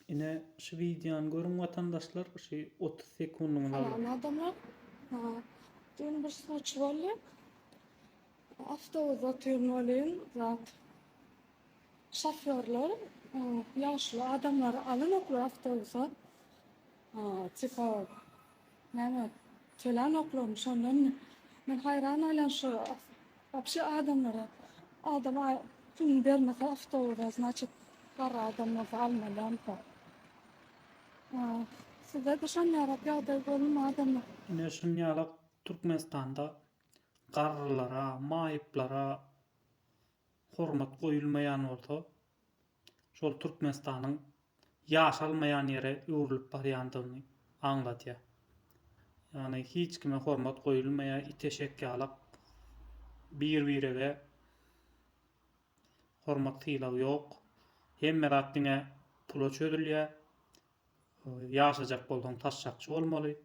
Ine şu wideony görüň watandaşlar şu otuz sekundyňyz alyň. Salam adamlar. Dün bir suçy boldy. Awtobusda otyryn welin zat şofýorlar ýaşuly adamlary alynoklar awtobusa. Tipa Näme kelan oklaryň şondanmy? Men haýran galan şu wapşe adamlara adam puluny bermese awtobusa znaçit garry adam bolsa almalyamyka? Sizede şonýalak ýagdaý bolmady-my? Ine şonýalak Türkmenistanda garrylara, maýyplara hormat goýulmaýan bolsa şol Türkmenistanyň ýaşalmaýan ýere öwrülip barýandygyny aňladýar. Ýagny hiç kime hormat goýulmaýar, it eşek ýalak bir birege hormat sylag ýok. Hemme zat diňe pula çözülýär. Ýaşajak bolsaň taşşakçy bolmaly.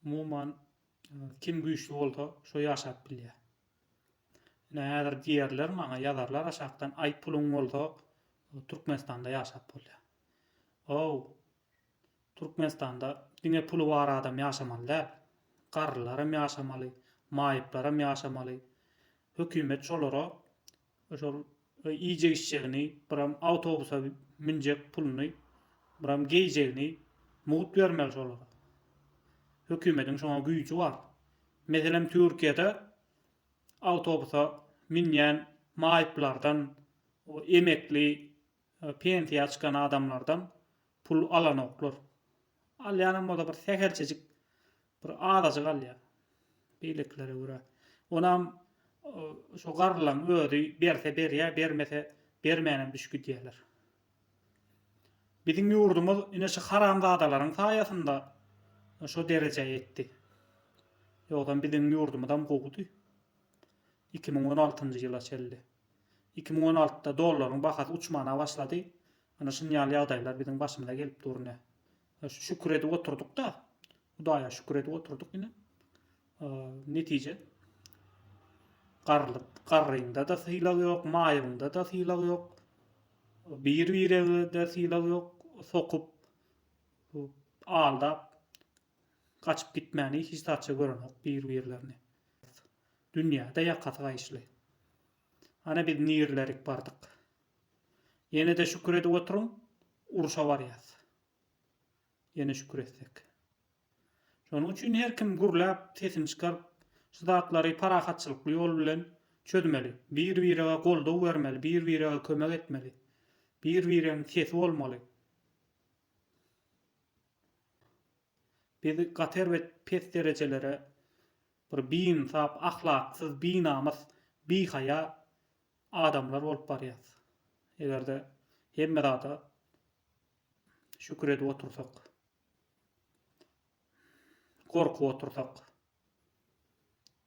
Umuman, kim güýçli bolsa, şo ýaşap bilýär. Ine, häzir diýerler maňa, ýazarlar aşakdan, Aý, puluň bolsa, Türkmenistanda ýaşap bolýar. How, Türkmenistanda diňe puly bar adam ýaşamaly däl. Garrylaram ýaşamaly, maýyplaram ýaşamaly. Hökümet şolara Şol iýjek-içjegini, biram awtobusa münjek puluny, biram geýjegini mugt bermeli şolara. Hökümetiň şoňa güýji bar. Meselem, Türkiýede awtobusa münýän maýyplardan, o emekli, pensiýa çykan adamlardan pul alanoklar. Alýanam bolsa bir sähelçejik Bir azajyk alýar. Beýlekilere görä. Onam şo garrylaň özi berse berýär, bermese bermänem düş gidýärler. Biziň ýurdumyz ine şu haramzadalaryň saýasynda şo derejä ýetdi. Ýogsam biziň ýurdumyzam gowudy. Iki müň on altynjy ýyla çelli. Iki müň on altyda dollaryň bahasy uçmana başlady. Ana şunýaly ýagdaýlar biziň başymyza gelip dur ine. Şükür edip oturdyk-da. Hudaýa şükür edip oturdyk ine. Netije garlyk, garryňda-da sylag ýok, maýygyňda-da sylag ýok. Bir-birege-de sylag ýok. Sokup, aldap, gaçyp gitmäni hiç zatça görenok bir-birlerini. Dünýä-de ýakasy gaýyşly. Hany biz nirlerik bardyk. Ýenede şükür edip oturyň, urşa barýas. Ýene şükür etsek. Şonuň üçin her kim gürläp, sesini çykaryp, şu zatlary parahatçylykly ýol bilen çözmeli. Bir-birege goldaw bermeli, bir-birege kömek etmeli. Bir-biregiň sesi bolmaly. Biz gaty erbet pes derejelere bir biinsap, ahlaksyz, binamys, bihaýa adamlar bolup barýas. Egerde hemme zada şükür edip otursak, gorkup otursak.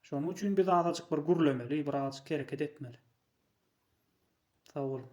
Şonuň üçin biz azajyk bir gürlemeli, bir azajyk hereket etmeli. Sag boluň.